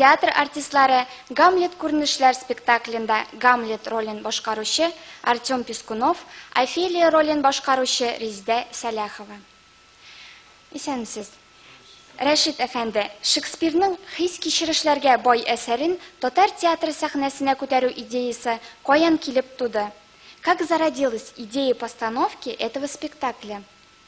Театр артистлары Гамлет күренешләр спектаклендә Гамлет ролен башкаручы Артем Пискунов, Офелия ролен башкаручы Риздә Сәләхова. Исәнмесез. Рәшит әфәнде, Шекспирның хис-кичерешләргә бай әсәрен татар театры сәхнәсенә күтәрү идеясе каян килеп туды? Как зародилась идея постановки этого спектакля?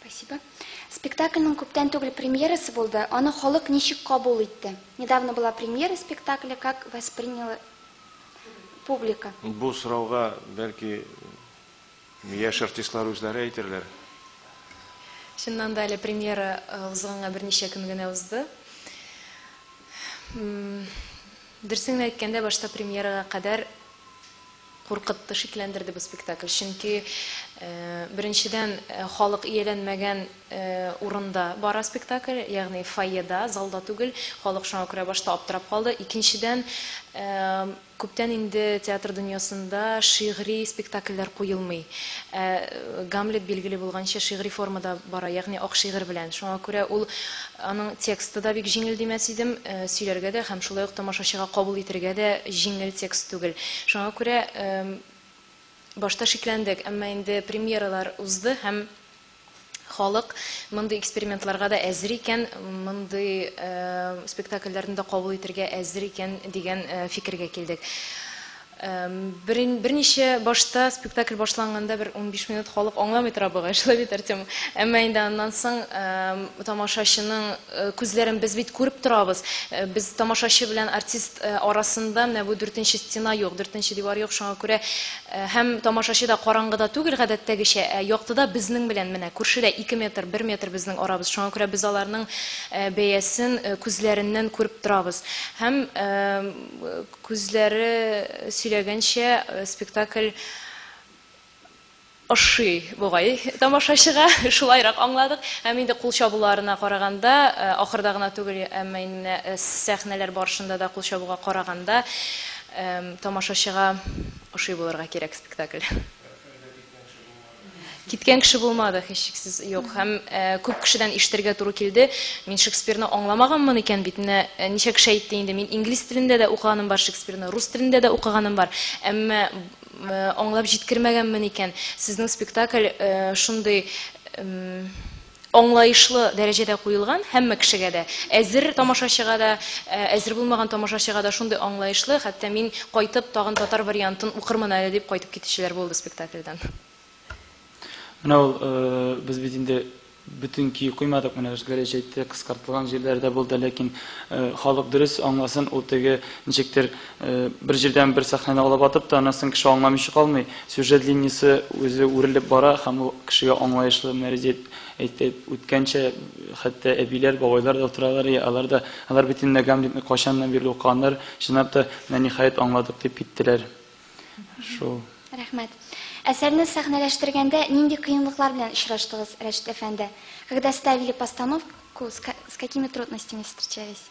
Спасибо. Спектакльның күптән түгел премьерасы булды. Аны халык ничек кабул итте? Недавно была премьера спектакля, как восприняла публика? Бу сорауга бәлки яшь артистлар үзләре әйтерләр. Чыннан да әле премьера э, узганга берничә көн генә узды. Дөресен әйткәндә, башта премьерага кадәр Куркытты, шикләндерде бу спектакль. Чөнки, беренчедән, халык ияләнмәгән урында бара спектакль, ягъни фойеда, залда түгел. Халык шуңа күрә башта аптырап калды. Икенчедән, күптән инде театр дөньясында шигъри спектакльләр куелмый. Ә Гамлет, билгеле булганча, шигъри формада бара, ягъни ак шигырь белән. Шуңа күрә ул Аның тексты да бик җиңел димәс идем. Сөйләргә дә һәм шулай ук тамашачыга кабул итергә дә җиңел текст түгел. Шуңа күрә башта шикләндек, әмма инде премьералар узды һәм халык мондый экспериментларга да әзер икән, мондый спектакльләрне дә кабул итергә әзер икән дигән фикергә килдек. Берин берничә башта спектакль башланганда бер унбиш минут халык аңламый тора бугай, шулай бит, Артем? Әмма инде аннан соң тамашачының күзләрен без бит күреп торабыз. Без тамашачы белән артист арасында менә бу дүртенче стена юк, дүртенче дивар юк, шуңа күрә һәм тамашачы да караңгыда түгел гадәттәгечә, ә яктыда безнең белән менә күршедә ике метр, бер метр безнең арабыз. Шуңа күрә без аларның бәясен күзләреннән күреп торабыз. Һәм Күзләре сөйләгәнчә, спектакль ошый бугай тамашачыга, шулайрак аңладык. Һәм инде кул чабуларына караганда, ахырда гына түгел, әмма инде менә сәхнәләр барышында да кул чабуга караганда, тамашачыга ошый булырга кирәк спектакль. Киткән кеше булмады, һичшиксез юк. Һәм э, күп кешедән ишетергә туры килде. Мин Шекспирны аңламаганмын икән бит. Менә э, ничә кеше әйтте инде, мин инглиз телендә дә укыганым бар Шекспирны, рус телендә дә укыганым бар. Әмма э, аңлап җиткермәгәнмен икән. Сезнең спектакль э, шундый эм, аңлаешлы дәрәҗәдә куелган, һәммә кешегә дә, әзер тамашачыга да, әзер булмаган тамашачыга да шундый аңлаешлы, хәтта мин кайтып тагын татар вариантын укырмын әле дип кайтып китүчеләр булды спектакльдән. Менә ул, без бит инде бөтен көй куймадык, менә Гәрәҗ әйтте, кыскартылган җирләре дә булды, ләкин халык дөрес аңласын, ул теге ничектер, Бер җирдән бер сәхнәне алып атып та, аннан соң кеше аңламыйча калмый. Сюжет линиясе үзе үрелеп бара һәм ул кешегә аңлаешлы мәрҗә әйтеп үткәнчә, хәтта әбиләр, бабайлар да утыралар, и алар да, алар бит инде Гамлетны кайчаннан бирле укыганнар, чынлап та, менә ниһаять аңладык дип киттеләр. Шул. Рәхмәт. Әсәрне сәхнәләштергәндә нинди кыенлыклар белән очраштыгыз, Рәшит әфәнде? Когда ставили постановку, с какими трудностями встречались?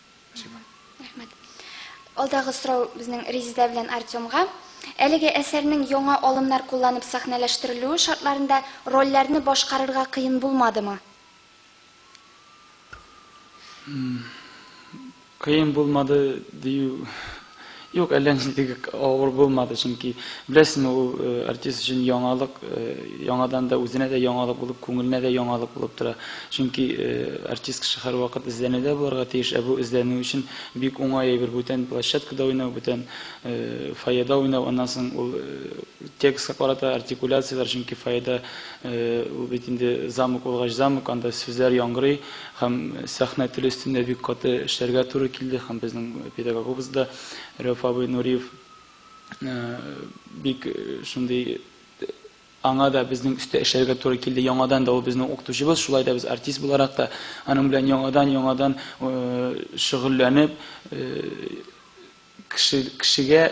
Спасибо. Рәхмәт. Алдагы сорау безнең Резида белән Артемга. Әлеге әсәрнең яңа алымнар кулланып сәхнәләштерелүе шартларында рольләрне башкарырга кыен булмадымы? Кыен булмады дию Юк, әллә нинди авыр булмады, чөнки беләсезме, ул э, артист өчен яңалык, э, яңадан да үзенә дә яңалык булып, күңеленә дә яңалык булып тора. Чөнки э, артист кеше һәрвакыт эзләнүдә булырга тиеш, ә бу эзләнү өчен бик уңай әйбер, бүтән площадкада уйнау, бүтән фойеда уйнау, аннан соң ул текстка карата артикуляцияләр, чөнки фойеда ул бит инде замок булгач замок, анда сүзләр яңгырый, Һәм сәхнә теле өстендә бик каты эшләргә туры килде, һәм безнең педагогыбыз да, Рәүф абый Нуриев, бик шундый, аңа да безнең өстә эшләргә туры килде, яңадан да ул безнең укытучыбыз, шулай да без артист буларак та аның белән яңадан-яңадан шөгыльләнеп, кешегә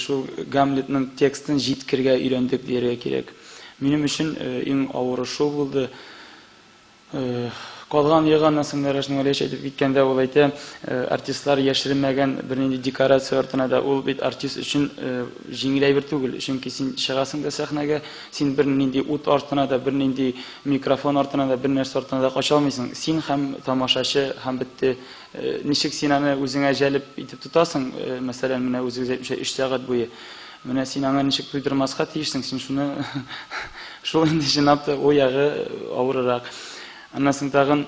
шул Гамлетның текстын җиткергә өйрәндек дияргә кирәк. Минем өчен иң авыры шул булды. Калган ел аннан соң Рәшнең Вәлиевич әйтеп киткәндә ул әйтә, артистлар яшеренмәгән бернинди декорация артына да ул бит артист өчен җиңел әйбер түгел, чөнки син чыгасың да сәхнәгә, син бернинди ут артына да, бернинди микрофон артына да, бернәрсә артына да кача алмыйсың, син һәм тамашачы һәм бетте. Ничек син аны үзеңә җәлеп итеп тотасың, мәсәлән, менә үзегез әйтмичә өч сәгать буе. Менә син аңа ничек туйдырмаска тиешсең, син шуны шул инде җынап та ул ягы авырырак. Аннан соң тагын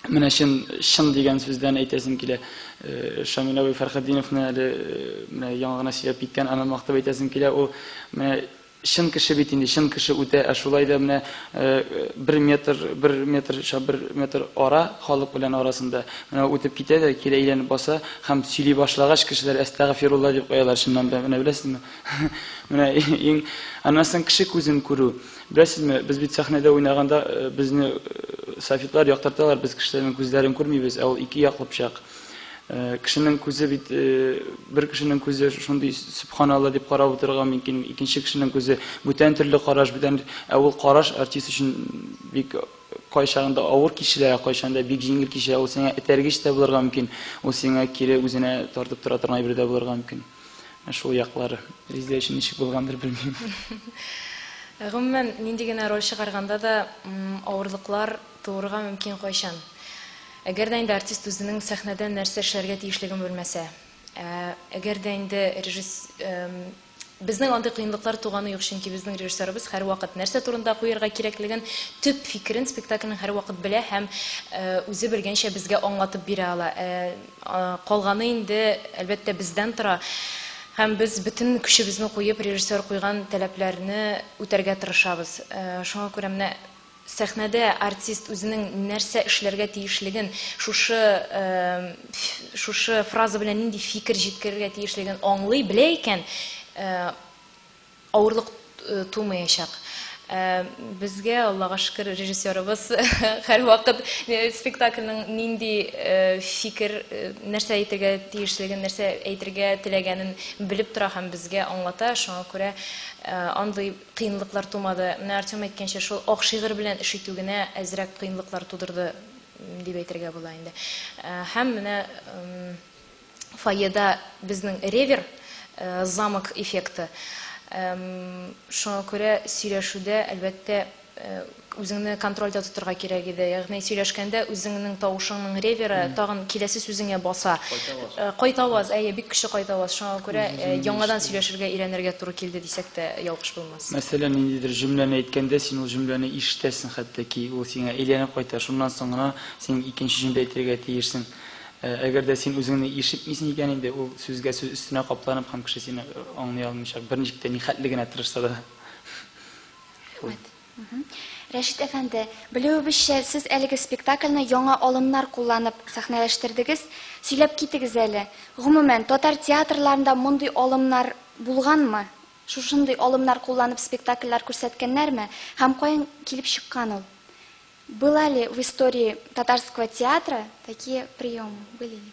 менә чын чын дигән сүздән әйтәсем килә. Шамил абый Фәрхетдиновны әле менә яңа гына сөйләп киткән, аны мактап әйтәсем килә. Ул менә чын кеше бит инде, чын кеше үтә, ә шулай да менә э, бер метр, бер метр, шап бер метр ара халык белән арасында. Менә үтеп китә дә, кире әйләнеп баса һәм сөйли башлагач, кешеләр әстәгъфирулла дип куялар чыннан да. Менә беләсезме? Менә иң аннан соң кеше күзен күрү. Беләсезме, без бит сәхнәдә уйнаганда э, безне э, софитлар яктырталар, без кешеләрнең күзләрен күрмибез, ә ул ике яклы пычак. Э, кешенең күзе бит бер кешенең күзе шундый субханалла дип карап утырырга мөмкин, икенче кешенең күзе бүтән төрле караш, бүтән ә ул караш артист өчен бик Кайчагында авыр кичерә, кайчагында бик җиңел кичерә. Ул сиңа этәргеч тә булырга мөмкин. Ул сиңа кире үзенә тартып тора торган әйбер дә булырга мөмкин. Ә шул яклары. Резидә өчен ничек булгандыр, белмим. Гомумән, нинди генә роль чыгарганда да, авырлыклар туырга мөмкин кайчан. Әгәр дә инде артист үзенең сәхнәдә нәрсә эшләргә тиешлеген белмәсә. Ә әгәр дә инде режисс, Безнең андый кыенлыклар туганы юк, чөнки безнең режиссерыбыз һәрвакыт нәрсә турында куярга кирәклеген, төп фикерен спектакльнең һәрвакыт белә һәм үзе белгәнчә безгә аңлатып бирә ала. Ә калганы инде, әлбәттә, бездән тора һәм без бөтен көчебезне куеп, режиссер куйган таләпләрне үтәргә тырышабыз. Шуңа күрә менә Сәхнәдә артист үзенең нәрсә эшләргә тиешлеген, шушы шушы фраза белән нинди фикер җиткерергә тиешлеген аңлый, белә икән, авырлык тумаячак. Безгә, Аллага шөкер, режиссерыбыз һәрвакыт спектакльнең нинди фикер, нәрсә әйтергә тиешлеген, нәрсә әйтергә теләгәнен белеп тора һәм безгә аңлата, шуңа күрә андый Кыенлыклар тумады. Менә Артем әйткәнчә, шул ак шигырь белән эш итү генә әзрәк кыенлыклар тудырды дип әйтергә була инде. Һәм менә фойеда безнең ревер, замок эффекты. Шуңа күрә сөйләшүдә, әлбәттә, Үзеңне контрольдә тотырга кирәк иде. Ягъни сөйләшкәндә үзеңнең тавышыңның реверы тагын киләсе сүзеңә баса. Кайтаваз. Кайтаваз, әйе, бик көчле кайтаваз. Шуңа күрә яңадан сөйләшергә өйрәнергә туры килде дисәк тә ялгыш булмас. Мәсәлән, ниндидер җөмләне әйткәндә, син ул җөмләне ишетәсең хәтта ки, ул сиңа әйләнеп кайта, шуннан соң гына син икенче җөмлә әйтергә тиешсең. Әгәр дә син үзеңне ишетмисең икән инде, ул сүзгә сүз өстенә капланып һәм кеше сине аңлый алмыйчак, берничек тә ни хәтле генә тырышса да. Рәхмәт. Рәшит әфәнде, белүебезчә, сез әлеге спектакльне яңа алымнар кулланып сәхнәләштердегез. Сөйләп китегез әле, гомумән, татар театрларында мондый алымнар булганмы? Шушындый алымнар кулланып спектакльләр күрсәткәннәрме? Һәм каян килеп чыккан ул? Была ли в истории татарского театра такие приемы? Были ли?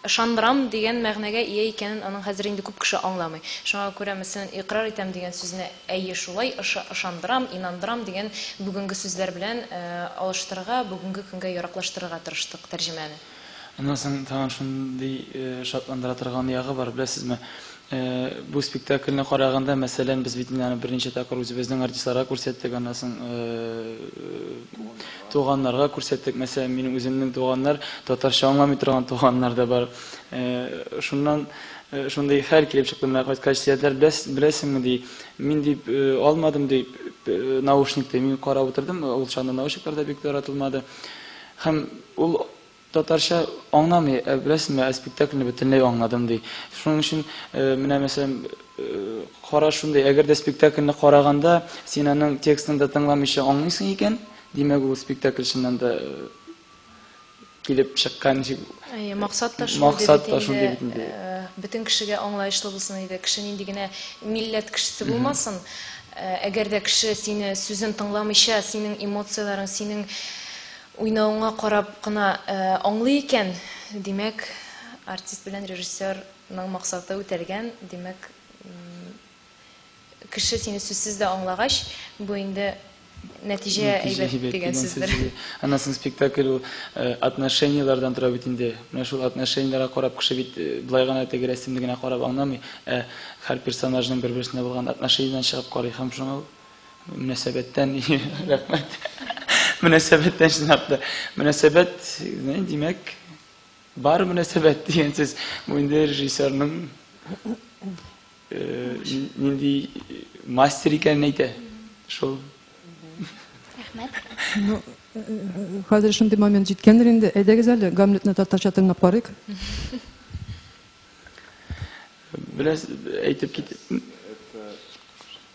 Ышандырам дигән мәгънәгә ия икәнен аның хәзер инде күп кеше аңламый. Шуңа күрә, мәсәлән, икърар итәм дигән сүзне әйе шулай, ышы, ышандырам, инандырам дигән бүгенге сүзләр белән алыштырырга, бүгенге көнгә яраклаштырырга тырыштык тәрҗемәне. Аннан соң тагын шундый шатландыра торган ягы бар, беләсезме, Ә бу спектакльне караганда, мәсәлән, без бит инде аны берничә тапкыр үзебезнең артистларга күрсәттек, аннан соң туганнарга күрсәттек. Мәсәлән, минем үземнең туганнар, татарча аңламый торган туганнар да бар. Шуннан шундый хәл килеп чыкты, менә кайткач, Зиядәр, беләсеңме, ди, мин дип алмадым, ди, наушникты. Мин карап утырдым, ул чагында наушниклар да бик таратылмады. Һәм ул Татарча аңламый, ә беләсеңме, ә спектакльне бөтенләй аңладым, ди. Шуның өчен, менә, мәсәлән, караш шундый, әгәр дә спектакльне караганда, син аның текстын да тыңламыйча аңлыйсың икән, димәк, ул спектакль чыннан да килеп чыккан дип. Әйе, максат та шундый бит инде. Максат та шундый бит инде. Бөтен кешегә аңлаешлы булсын иде. Кеше нинди генә милләт кешесе булмасын, әгәр дә кеше сине сүзен тыңламыйча, синең эмоцияләрең, синең Уйнавыңа карап кына аңлый икән, димәк, артист белән режиссер ның максаты үтәлгән, димәк, кеше сине сүзсез дә аңлагач, бу инде нәтиҗә әйбәт дигән сүздер. Аннан соң спектакль ул отношениеләрдән тора бит инде. Менә шул отношениеләргә карап кеше бит болай гына теге рәсемне генә карап аңламый, ә һәр персонажның бер-берсенә булган отношениедән чыгып карый һәм шуңа Мөнәсәбәттән рәхмәт. Мөнәсәбәттән чынлап та. Мөнәсәбәт, димәк, бар мөнәсәбәт дигән сүз. Бу инде режиссерның нинди мастер икәнен әйтә. Шул. Рәхмәт. Ну, хәзер шундый момент җиткәндер инде. Әйдәгез әле, Гамлетны татарча тыңлап карыйк. Беләс әйтеп кит.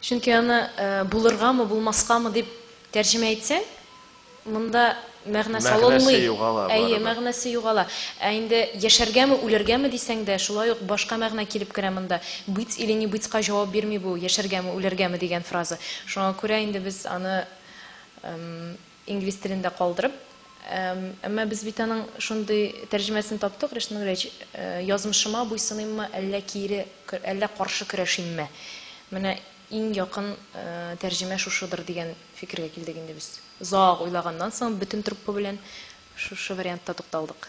Чөнки аны э, булыргамы, булмаскамы дип тәрҗемә итсәң, монда мәгънә салынмый. Әйе, мәгънәсе югала. Ә инде яшәргәме, үләргәме дисәң дә, шулай ук башка мәгънә килеп керә монда. Быть или не бытька җавап бирми бу, яшәргәме, үләргәме дигән фраза. Шуңа күрә инде без аны Инглиз телендә калдырып. Әмма без бит аның шундый тәрҗемәсен таптык, Ришат Нуриевич, Язмышыма буйсыныйммы, әллә кире, әллә каршы көрәшимме? Менә иң якын тәрҗемә шушыдыр дигән фикергә килдек инде без. Озак уйлаганнан соң бөтен труппа белән шушы вариантта тукталдык.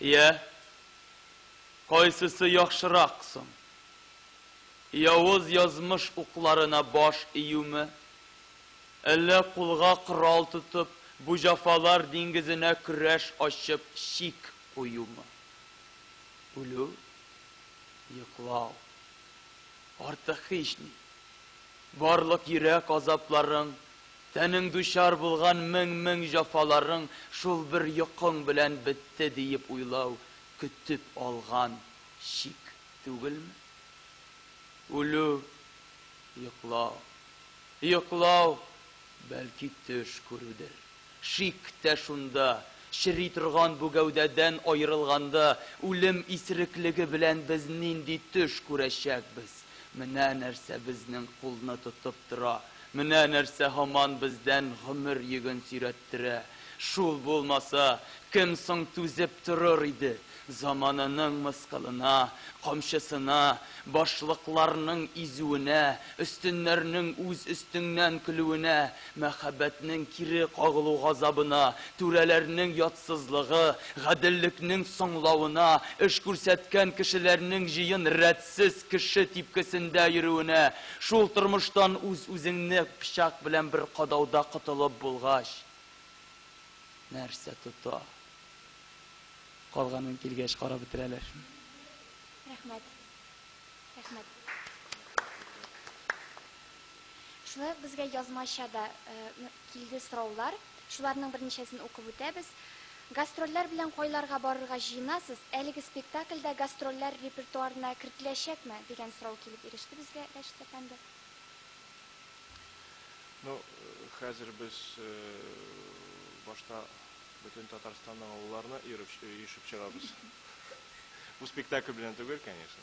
Йә, кайсысы яхшырак соң? Явыз язмыш укларына баш июме, әллә кулга корал тотып, бу җафалар диңгезенә көрәш ачып чик куюмы? Үлү, йоклау, артык һични. Барлык йөрәк азапларың Тәнең дучар булган мең-мең җафаларың шул бер йокың белән бетте диеп уйлау көтеп алган чик түгелме? Үлү, йоклау, йоклау, бәлки төш күрүдер. Шик тә шунда, чери торган бу гәүдәдән аерылганда, үлем исереклеге белән без нинди төш күрәчәкбез? Менә нәрсә безнең кулны тотып тора, Менә нәрсә һаман бездән гомер йөген сөйрәттерә. Шул булмаса, кем соң түзеп торыр иде? Замананың мыскылына, камчысына, башлыкларның изүенә, өстеннәрнең үз өстеңнән көлүенә, мәхәббәтнең кире кагылу газабына, түрәләрнең ятсызлыгы, гаделлекнең соңлавына, эш күрсәткән кешеләрнең җыен рәт Сез кеше типкесендә йөрүенә, шул тормыштан үз-үзеңне пычак белән бер кадауда котылып булгач, нәрсә тота? Калганын килгәч карап бетерәләр. Рәхмәт. Рәхмәт. Шулай ук безгә язмача да килде сораулар. Шуларның берничәсен укып үтәбез. Гастрольләр белән кайларга барырга җыенасыз? Әлеге спектакль дә гастрольләр репертуарына кертеләчәкме? дигән сорау килеп иреште безгә, Рәшит әфәнде. Ну, хәзер без башта бөтен Татарстанның авылларына йөреп, өешеп чыгабыз. Бу спектакль белән түгел, конечно.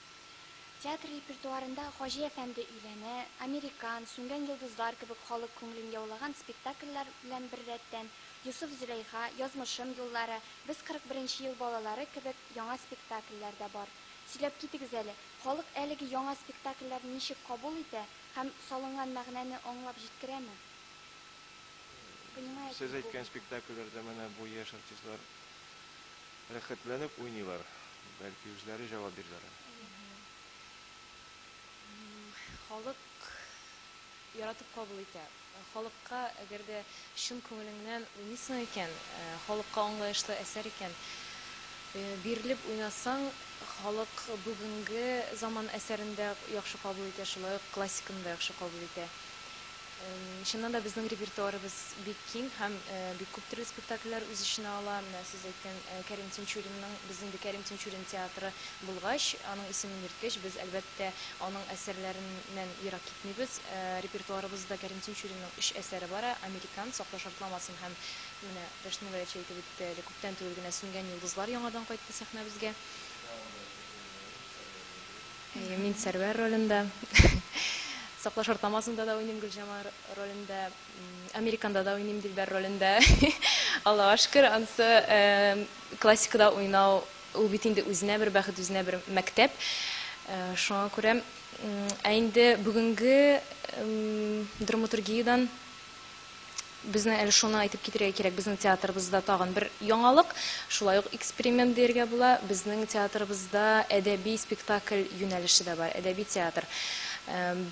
Театр репертуарында Хаҗи әфәнде өйләнә, Американ, Сүнгән йолдызлар кебек халык күңелен яулаган спектакльләр белән беррәттән, Йосыф-Зөләйха, Язмышым юллары, Без 41 ел балалары кебек яңа спектакльләр дә бар. Сөйләп китегез әле, халык әлеге яңа спектакльләрне ничек кабул итә һәм салынган мәгънәне аңлап җиткерәме? Понимает ли Сез әйткән публика? спектакльләрдә менә бу яшь артистлар Рәхәтләнеп уйныйлар, бәлки үзләре җавап бирерләр әле. Халык яратып кабул итә. Халыкка, әгәр дә чын күңелеңнән уйныйсың икән, халыкка аңлаешлы әсәр икән, бирелеп уйнасаң, халык бүгенге заман әсәрен дә яхшы кабул итә, шулай ук классиканы да яхшы кабул итә. Чыннан да безнең репертуарыбыз бик киң һәм бик күп төрле спектакльләр үз эченә ала. Менә сез әйткән Кәрим Тинчуринның, без инде Кәрим Тинчурин театры булгач, аның исемен йөрткәч, без, әлбәттә, аның әсәрләреннән ерак китмибез. Репертуарыбызда Кәрим Тинчуринның өч әсәре бара, Американ, Сакла шартламасын һәм менә Дәшми Горячий әйтеп үтте әле, күптән түгел генә Сүнгән йолдызлар яңадан кайтты сәхнәбезгә. Әйе, мин Сәрвәр ролендә. Сакла шартнамасында да уйныйм Гөлҗамал ролендә. Американда да уйныйм Дилбәр ролендә. Аллага шөкер, ансы классикада уйнау ул бит инде үзенә бер бәхет, үзенә бер мәктәп. Шуңа күрә, ә инде бүгенге драматургиядән Безнең әле шуны әйтеп китергә кирәк, безнең театрыбызда тагын бер яңалык, шулай ук эксперимент диергә була. Безнең театрыбызда әдәби спектакль юнәлеше дә бар, әдәби театр.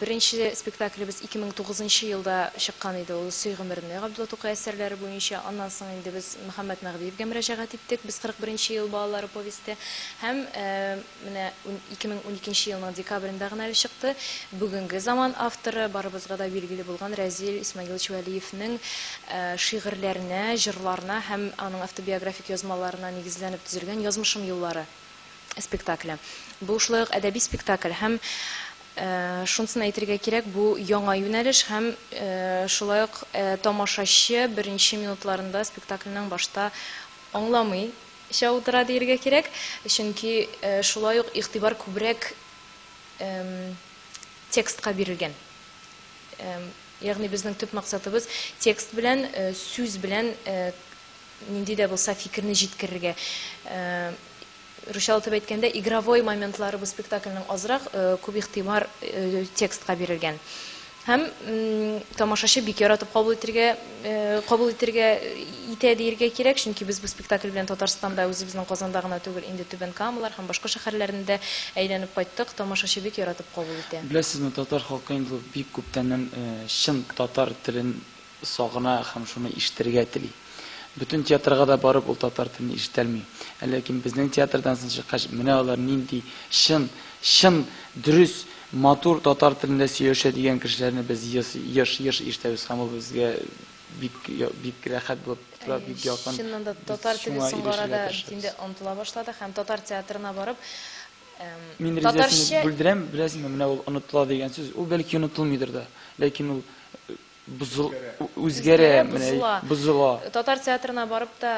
Беренче спектаклебез 2009 нчы елда чыккан иде, ул Сөй гомерне, Габдулла Тукай әсәрләре буенча. Аннан соң инде без Мөхәммәт Мәгъдиевгә мөрәҗәгать иттек, Без 41 нче ел балалары повесте һәм Менә ун ике мең унике нче елның декабрендә гына әле чыкты. Бүгенге заман авторы, барыбызга да билгеле булган Рәзил Исмәгыйлович Вәлиевнең шигырьләренә, җырларына һәм аның автобиографик язмаларына нигезләнеп төзелгән Язмышым юллары спектакле. Бу шулай ук әдәби спектакль һәм шунысын әйтергә кирәк, бу яңа юнәлеш һәм шулай ук тамашачы беренче минутларында спектакльнең башта аңламый, Эчә утыра диергә кирәк, чөнки шулай ук игътибар күбрәк текстка бирелгән. Ягъни безнең төп максатыбыз текст белән, сүз белән нинди дә булса фикерне җиткерергә. Русчалатып әйткәндә, игровой моментлары бу спектакльнең азрак, күп игътибар текстка бирелгән. Һәм тамашачы бик яратып кабул итергә, кабул итергә итә диергә кирәк, чөнки без бу спектакль белән Татарстанда, үзебезнең Казанда гына түгел, инде Түбән Камалар һәм башка шәһәрләрне дә әйләнеп кайттык, тамашачы бик яратып кабул итә. Беләсезме, татар халкы инде бик күптәннән чын татар телен Сагына һәм шуны ишетергә тели. Бөтен театрга да барып ул татар телен ишетәлми. Ә ләкин безнең театрдан соң чыккач, менә алар нинди чын, чын, дөрес, матур татар телендә сөйләшә дигән кешеләрне без еш, еш ишетәбез һәм ул безгә бик, бик рәхәт булып тора, бик якын. Чыннан да татар теле соңгы арада инде онытыла башлады һәм татар театрына барып Мин ризасызлык белдерәм, беләсеңме, менә ул онытыла дигән сүз, ул бәлки онытылмыйдыр да, ләкин ул Бозыл... Үзгәрә, менә, бозыла. Татар театрына барып та,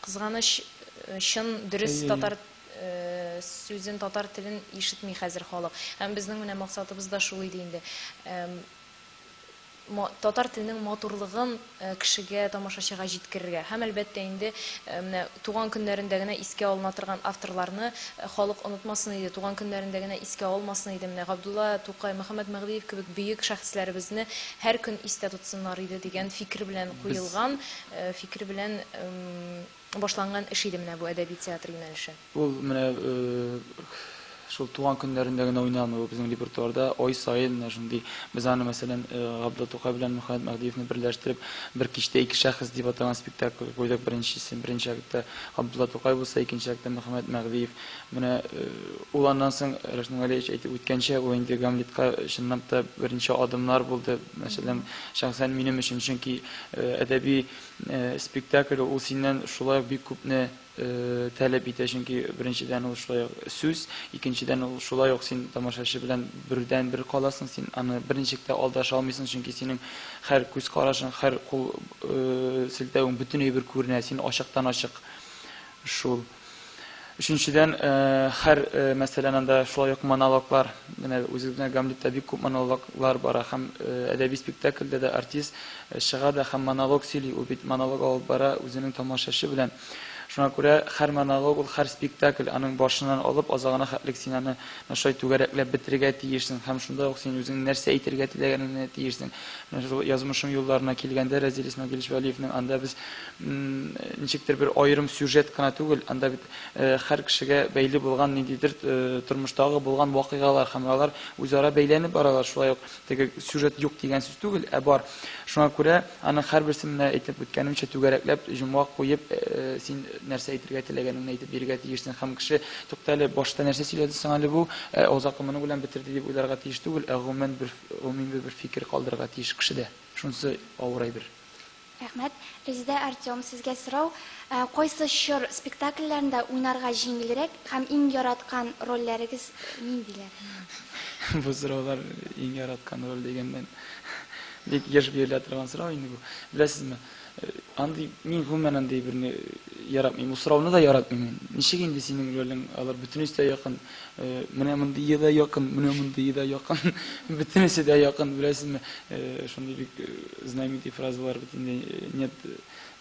кызганыч, чын, дөрес татар сүзен, татар телен ишетми хәзер халык. Һәм безнең менә максатыбыз да шул иде инде. Татар теленең матурлыгын кешегә, тамашачыга җиткерергә һәм, әлбәттә инде, менә туган көннәрендә генә искә алына торган авторларны халык онытмасын иде, туган көннәрендә генә искә алмасын иде, менә Габдулла Тукай, Мөхәммәт Мәгъдиев кебек бөек шәхесләребезне һәр көн истә тотсыннар иде дигән фикер белән Без. куелган, фикер белән Башланган эш иде менә бу әдәби театр юнәлеше. Ул менә шул туган көннәрендә генә уйнамый, ул безнең репертуарда ай саен менә шундый. Без аны, мәсәлән, Габдулла Тукай белән Мөхәммәт Мәһдиевне берләштереп, Бер кичтә ике шәхес дип атаган спектакль куйдык беренчесен. Беренче актта Габдулла Тукай булса, икенче актта Мөхәммәт Мәһдиев. Менә ул аннан соң, Рәшит Нургалиевич әйтеп үткәнчә, ул инде Гамлетка чынлап та беренче адымнар булды, мәсәлән, шәхсән минем өчен, чөнки әдәби Спектакль ул синнән шулай ук бик күпне таләп итә, чөнки беренчедән ул шулай ук сүз, икенчедән ул шулай ук син тамашачы белән бердән бер каласың, син аны берничек тә алдаша алмыйсың, чөнки синең хәр күз карашың, хәр кул селтәвең бөтенләй бер күренә, син ачыктан ачык шул. Өченчедән, һәр мәсәлән анда шулай ук монологлар, менә үзебезнең Гамлетта бик күп монологлар бара һәм әдәби спектакльдә дә артист чыга да һәм монолог сөйли, ул бит монолог алып бара үзенең тамашачы белән. Шуңа күрә һәр монолог ул һәр спектакль, аның башыннан алып азагына хәтлек син аны менә шулай түгәрәкләп бетерергә тиешсең һәм шунда ук син үзеңнең нәрсә әйтергә теләгәнеңне тиешсең. Менә шул Язмышым юлларына килгәндә Рәзил Исмәгыйлевич Вәлиевнең анда без ничектер бер аерым сюжет кына түгел, анда бит һәр кешегә бәйле булган ниндидер тормыштагы булган вакыйгалар һәм алар үзара бәйләнеп баралар. Шулай ук теге сюжет юк дигән сүз түгел, ә бар. Шуңа күрә аның һәрберсе менә әйтеп үткәнемчә түгәрәкләп җомга куеп син нәрсә әйтергә теләгәнеңне әйтеп бирергә тиешсең һәм кеше туктале, башта нәрсә сөйләде соң әле бу, ә озакы моның белән бетерде дип уйларга тиеш түгел, ә гомумән бер гомуми бер фикер калдырырга тиеш кешедә. Шунысы авыр әйбер. Рәхмәт. Резеда, Артем, сезгә сорау, кайсы чор спектакльләрендә уйнарга җиңелрәк һәм иң яраткан рольләрегез ниндиләр? Бу сораулар иң яраткан роль дигәннән бик еш бирелә торган сорау инде бу. Беләсезме, андый, мин гомумән андый берне яратмыйм. Бу сорауны да яратмыйм мин. Ничек инде синең ролең алар бөтенесе дә якын. Менә мондые да якын, менә мондые да якын. Бөтенесе дә якын, беләсезме? Шундый бик знаменитый фразалар бит инде. Нет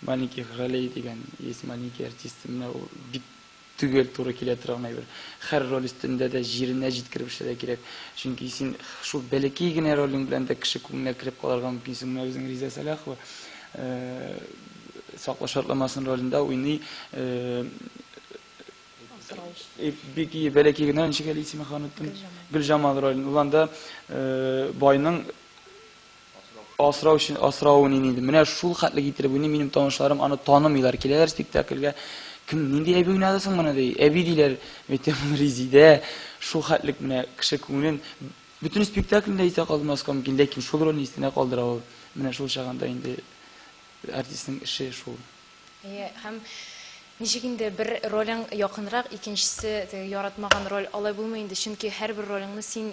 маленьких ролей дигән, есть маленькие артисты. Менә ул бик төгәл туры килә торган әйбер. Хәр роль өстендә дә җиренә җиткереп эшләргә кирәк. Чөнки син шул бәләкәй генә ролең белән дә кеше күңеленә кереп калырга мөмкинсең. Менә безнең Риза Сәлахова Сакла шартламасын ролендә уйный. Э, бик ие бәләкәй генә ничек әле исеме ханытым гөлҗамал ролен ул анда э, байның асрау өчен асравын инде менә шул хәтле китереп уйный минем танышларым аны танымыйлар киләләр спектакльгә кем нинди әби уйнады соң моны ди әби диләр әйтәм ул резидә шул хәтлек менә кеше күңелен бөтен спектакльдә исә калдырмаска мөмкин ләкин шул рольне истенә калдыра ул менә шул чагында инде артистның эше шул Әйе, һәм ничек инде бер ролең якынрак, икенчесе теге яратмаган роль, алай булмый инде, чөнки һәрбер ролеңне син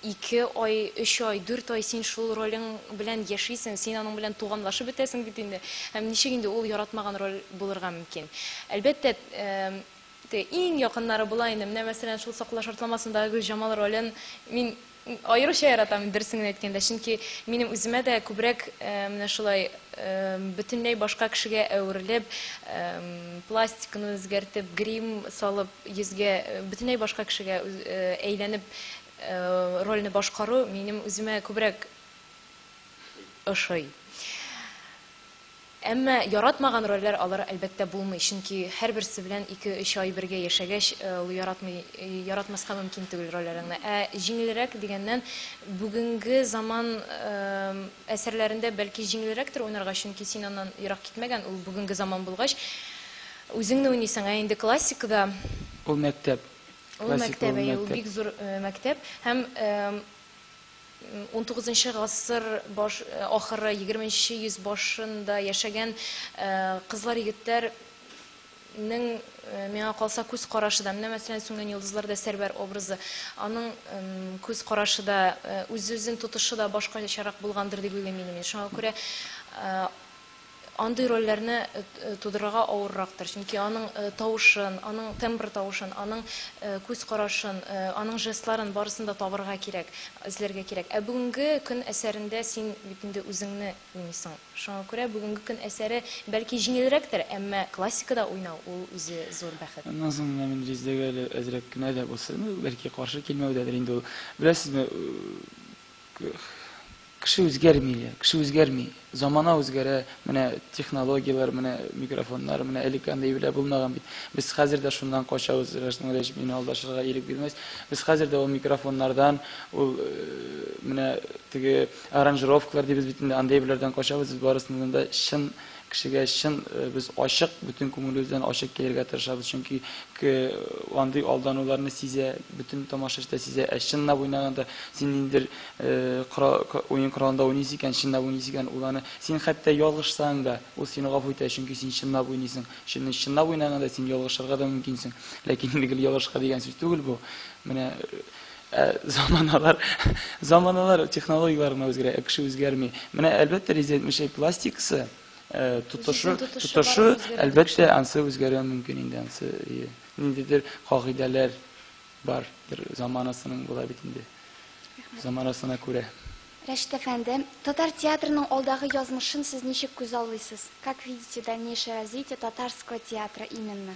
ике ай, өч ай, дүрт ай син шул ролең белән яшисең, син аның белән туганлашып бетәсең бит инде. Һәм ничек инде ул яратмаган роль булырга мөмкин? Әлбәттә, теге иң якыннары була инде. Менә мәсәлән, шул Сакла шартламасындагы Гөлҗамал ролен мин Аеруча яратам мин, дөресен генә әйткәндә, чөнки минем үземә дә күбрәк менә шулай бөтенләй башка кешегә әверелеп, пластиканы үзгәртеп, грим салып, йөзгә бөтенләй башка кешегә әйләнеп рольне башкару минем үземә күбрәк ошый. Әмма яратмаган рольләр алыр, әлбәттә, булмый, чөнки һәрберсе белән ике-өч ай бергә яшәгәч, ул яратмый, яратмаска мөмкин түгел рольләреңне. Ә җиңелрәк дигәннән, бүгенге заман әсәрләрендә, бәлки, җиңелрәктер уйнарга, чөнки син аннан ерак китмәгән, ул бүгенге заман булгач, үзеңне уйныйсың, ә инде классикада. Ул мәктәп. Ул мәктәп, әйе, ул бик зур мәктәп һәм Унтугызынчы гасыр баш ахыры, егерменче йөз башын да яшәгән кызлар-егетләр нең, миңа калса, күз карашы да, менә мәсәлән, Сүнгән йолдызлар да Сәрвәр образы, аның күз карашы да, үз-үзен тотышы да башкачарак булгандыр дип уйлыйм инде мин. Шуңа күрә, Андый рольләрне тудырырга авыррактыр, чөнки аның тавышын, аның тембр тавышын, аның күз карашын, аның жестларын, барысын да табырга кирәк, эзләргә кирәк. Ә бүгенге көн әсәрендә син бит инде үзеңне уйныйсың. Шуңа күрә бүгенге көн әсәре, бәлки, җиңелрәктер, әмма классикада уйнау, ул үзе зур бәхет. Аннан соң менә мин Резедәгә әле әзрәк кенә дә булса, ну, бәлки, каршы килмәүдәдер инде ул. Беләсезме, Кеше үзгәрми, Илья, кеше үзгәрми. Замана үзгәрә, менә технологияләр, менә микрофоннар, менә элек андый белә булмаган бит. Без хәзер дә шуннан качабыз, Рәшит Нуриевич, мине алдашырга ирек бирмәс. Без хәзер дә ул микрофоннардан, ул э, менә теге аранжировкалар дибез бит инде, андый беләрдән качабыз, без барысыннан да чын Кешегә чын без ачык, бөтен күңелебездән ачык килергә тырышабыз, чөнки к андый алдануларны сизә, бөтен тамашачы да сизә. Ә чынлап уйнаганда, син ниндидер кора уен коралында уйныйсың икән, чынлап уйныйсың икән, ул аны син хәтта ялгышсаң да, ул сине гафу итә, чөнки син чынлап уйныйсың. Чөнки чынлап уйнаганда син ялгышырга да мөмкинсең. Ләкин инде гел ялгышырга дигән сүз түгел бу. Менә Ә заманалар, заманалар технологияләр генә үзгәрә, ә кеше үзгәрми. Менә әлбәттә резина әйтмешәй пластикасы, э, тотышы, тотышы, әлбәттә ансы үзгәрә мөмкин инде ансы. Э, ниндидер кагыйдәләр бар, бер заманасының була бит инде. Заманасына күрә. Рәшит әфәнде, татар театрының алдагы язмышын сез ничек күз аллыйсыз? Как видите дальнейшее развитие татарского театра именно?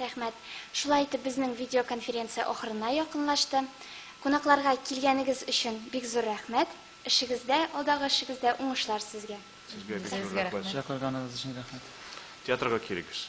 Рәхмәт. Шулай итеп безнең видеоконференция ахырына якынлашты. Кунакларга килгәнегез өчен бик зур рәхмәт. Эшегездә, алдагы эшегездә уңышлар сезгә. Сезгә бик зур рәхмәт. Чакырганыгыз өчен рәхмәт. Театрга килегез.